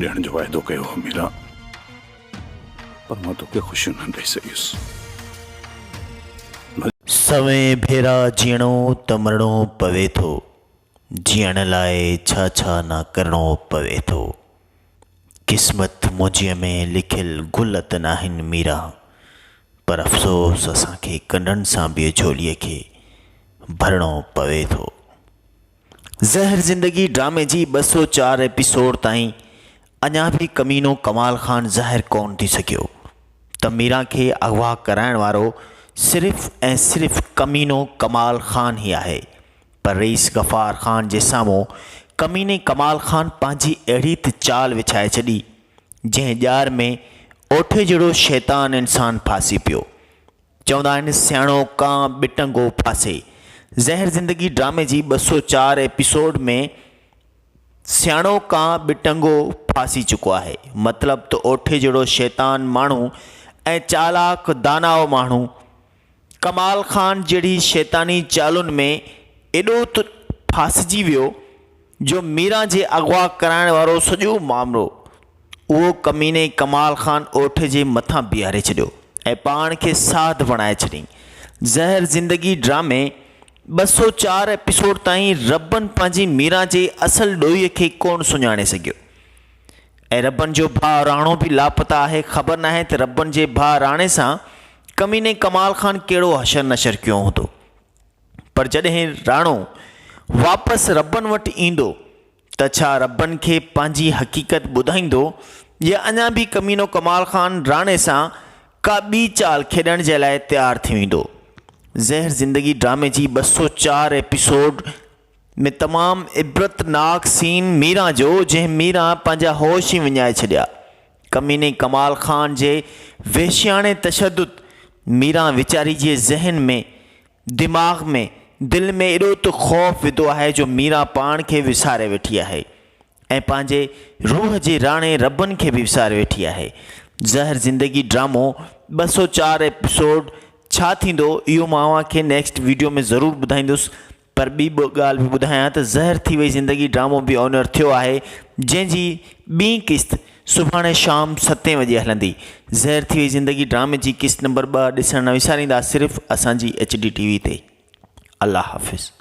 ڏيڻ جو واعدو ڪيو هو ميرا، پر مان توکي خوشيون نه ڏئي سگهيس. ڀلي. سوين ڀيرا جيئڻو ته مرڻو پوي ٿو، جيئڻ لاء ڇا ڇا نه ڪرڻو پوي ٿو. قسمت منهنجيء ۾ لکيل گل ته ناهن ميرا، پر افسوس اسان کي ڪنڊن سان به جهوليء کي ڀرڻو پوي ٿو. زهر زندگي ڊرامي جي ٻه سؤ چار ايپيسوڊ تائين اڃا به ڪمينو ڪمال خان ظاهر ڪونه ٿي سگهيو ته ميران کي اغوا ڪرائڻ وارو صرف ۽ صرف ڪمينو ڪمال خان ئي آهي پر رئيس غفار خان جي سامهون ڪميني ڪمال خان پنهنجي اهڙي ته چال وڇائي ڇڏي جنهن ڄار ۾ اوٺي جهڙو شيطان انسان ڦاسي پيو چوندا آهن سياڻو ڪانء ٻٽنگو ڦاسي. زهر زندگي ڊرامي جي ٻه سؤ چار ايپيسوڊ ۾ سياڻو ڪانء ٻٽنگو ڦاسي چڪو آهي. مطلب ته اوٺي جهڙو شيطان ماڻهو ۽ چالاڪ داناء ماڻهو ڪمال خان جهڙي شيطاني چالن ۾ ايڏو ته ڦاسجي ويو جو ميران جي اغوا ڪرائڻ وارو سڄو معاملو اهو ڪميني ڪمال خان اوٺي جي مٿان بيهاري ڇڏيو ۽ پاڻ کي ساڌ بڻائي ڇڏيائين. زهر زندگي ڊرامي ٻه سؤ چار ايپيسوڊ تائين ربن پنهنجي ميران جي اصل ڏوهي کي ڪونه سڃاڻي سگهيو ۽ ربن جو ڀاء راڻو به لاپتا آهي خبر ناهي ته ربن جي ڀاء راڻي سان ڪميني ڪمال خان ڪهڙو حشر نشر ڪيو هوندو. پر جڏهن راڻو واپس ربن وٽ ايندو ته ڇا ربن کي پنهنجي حقيقت ٻڌائيندو يا اڃا به ڪمينو ڪمال خان راڻي سان ڪا ٻي چال کيڏڻ جي لاء تيار ٿي ويندو زهر زندگي ڊرامي جي ٻه سؤ چار ايپيسوڊ ۾ تمام عبرتناڪ سين ميران جو جنهن ميران پنهنجا هوش ئي وڃائي ڇڏيا ڪميني ڪمال خان جي وحشياڻي تشدد ميران ويچاري جي ذهن ۾ دماغ ۾ دل ۾ ايڏو ته خوف وڌو آهي جو ميران پاڻ کي وساري ويٺي آهي ۽ پنهنجي روح جي راڻي ربن کي به وساري ويٺي آهي زهر زندگي ڊرامو ٻه سؤ چار ايپيسوڊ ڇا ٿيندو اهو مان اوهان کي نيڪسٽ ويڊيو ۾ ضرور ٻڌائيندس پر ٻي به ڳالهه به ٻڌايان ته زهر ٿي وئي زندگي ڊرامو به آن ايئر ٿيو آهي جنهن جي ٻين قسط سڀاڻي شام ستين وڄي هلندي زهر ٿي وئي زندگي ڊرامي جي قسط نمبر ٻه ڏسڻ نه وساريندا صرف اسان جي ايچ ڊي ٽي وي تي الله حافظ.